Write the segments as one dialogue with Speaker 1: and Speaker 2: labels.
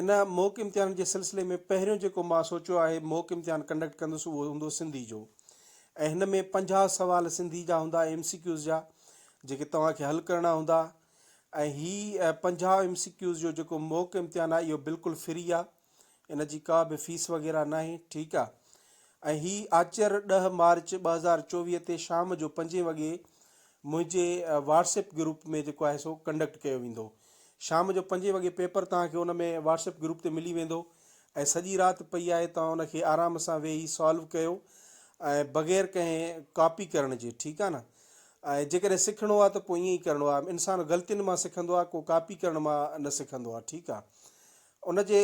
Speaker 1: ان mock امتحان جي سلسلي ۾ پهريون جيڪو مان سوچيو آهي موڪ امتحان ڪنڊڪٽ ڪندس اهو هوندو سنڌي جو ۽ هن ۾ پنجاهه سوال سنڌي جا هوندا ايم سي ڪيوز جا جيڪي توهان کي حل ڪرڻا هوندا ۽ هي پنجاهه ايم سي ڪيوز جو جيڪو موڪ امتحان آهي اهو بلڪل فري آهي ان جي ڪا به فيس وغيره ناهي ٺيڪ آهي ۽ هي آچر ڏهه مارچ ٻه هزار چوويهه تي شام جو پنجين وڳي منهنجي واٽس ايپ گروپ ۾ جيڪو آهي سو ڪنڊڪٽ ڪيو ويندو شام جو پنجين وڳي پيپر توهان کي ان ۾ واٽس ايپ گروپ تي ملي ويندو ۽ سڄي رات پئي آهي توهان ان کي آرام سان ويهي سالو ڪيو ۽ بغير ڪنهن ڪاپي ڪرڻ جي ٺيڪ آهي نه ۽ جيڪڏهن سکڻو آهي ته پوء ائين ئي ڪرڻو آهي انسان غلطين مان سکندو آهي ڪو ڪاپي ڪرڻ مان نه سکندو آهي ٺيڪ آهي ان جي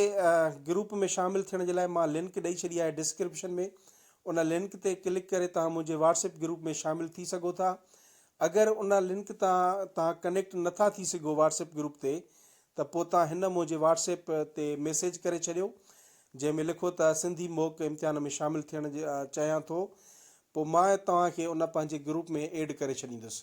Speaker 1: گروپ ۾ شامل ٿيڻ جي لاء مان لنڪ ڏئي ڇڏي آهي ڊسڪرپشن ۾ ان لنڪ تي ڪلڪ ڪري توهان منهنجي واٽس ايپ گروپ ۾ شامل ٿي سگهو ٿا اگر ان لنڪ تان توهان ڪنيڪٽ نٿا ٿي سگهو واٽس ايپ گروپ تي ته پوء توهان هن منهنجي واٽس ايپ تي ميسيج ڪري ڇڏيو جنهن ۾ لکو ته سنڌي موڪ امتحان ۾ شامل ٿيڻ چاهيان ٿو پوء مان توهان کي ان پنهنجي گروپ ۾ ايڊ ڪري ڇڏيندس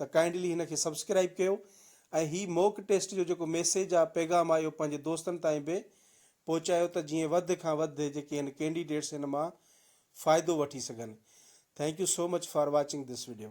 Speaker 1: ته ڪائنڊلي هن کي سبسڪرائيب ڪيو ۽ هي موڪ ٽيسٽ جو جيڪو ميسيج آ پيغام آ اهو پنهنجي دوستن تائين به پهچايو ته جيئن وڌ کان وڌ جيڪي هن ڪينڊيڊيٽس هن مان فائدو وٺي سگهن thank you so much for watching this video.